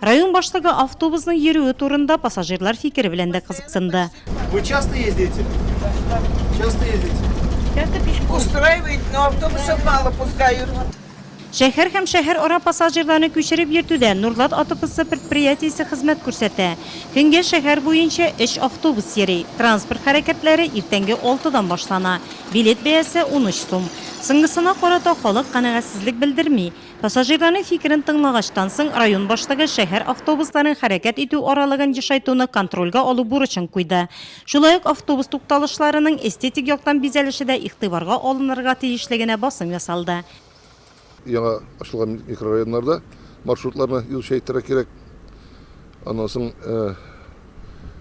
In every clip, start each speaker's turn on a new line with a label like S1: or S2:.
S1: Район башлыгы автобусның йөрүе турында пассажирлар фикере белән дә кызыксынды. Вы часто
S2: ездите? Часто ездите? Часто пешком.
S3: Устраивает, но автобусов мало пускают. Шәһәр
S1: һәм шәһәр ара пассажирларны күчереп йөртүдә Нурлат АТПсы предприятиесе хезмәт күрсәтә. Көнгә шәһәр буенча өч автобус йөри. Транспорт хәрәкәтләре иртәнге алтыдан башлана. Билет бәясе, унөч сум. Соңгысына карата халык канәгатьсезлек белдерми. Пассажирларның фикерен тыңлагачтан соң, район башлыгы шәһәр автобусларын хәрәкәт итү аралыгын ешайтуны контрольгә алу бурычын куйды. Шулай ук автобус тукталышларының эстетик яктан бизәлеше дә игътибарга алынырга тиешлегенә басым ясалды. Яңа
S4: ачылган микрорайоннарда маршрутларны юзучы әйтергә кирәк. Аннан соң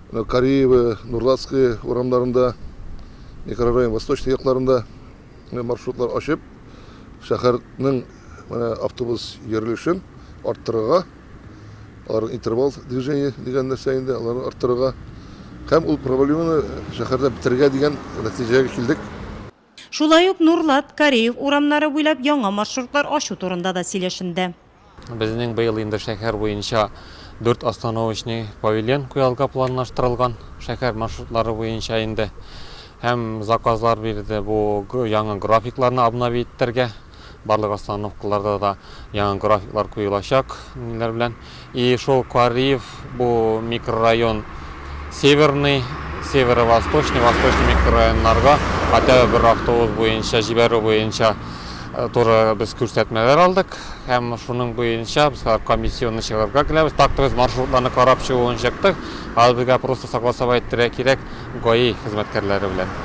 S4: менә Кариево, Нурлатское урамнарында, микрорайон восточный якларында маршрутлар ачып, шәһәрнең менә автобус йөрелешен арттырырга, алар интервал движение дигән нәрсә инде, аларны арттырырга һәм ул проблеманы шәһәрдә бетерергә дигән нәтиҗәгә килдек. Шулай
S1: ук Нурлат, Кареев урамнары буйлап яңа маршрутлар ачу турында да сөйләшенде. Безнең быел
S5: инде шәһәр буенча дүрт остановочный павильон куярга планлаштырылган, шәһәр маршрутлары буенча инде. Һәм заказлар бирде бу яңа графикларны обновить итәргә. Барлык остановкаларда да яңа графиклар куелачак, ниләр белән. И шул Кариев Бу микрорайон Северный, Северо-Восточный, Восточный микрорайоннарга хотя бы бер автобус буенча җибәрү буенча э, туры без күрсәтмәләр алдык һәм шуның буенча без комиссионны чыгарырга киләбез. Так то без маршрутларны карап чыгуын чыктык. Хәзер безгә просто согласовать итәргә кирәк ГАИ хезмәткәрләре белән.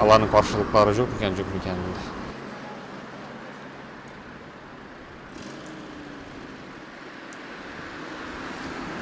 S5: Аларның каршылыклары юк микән, юк микән инде.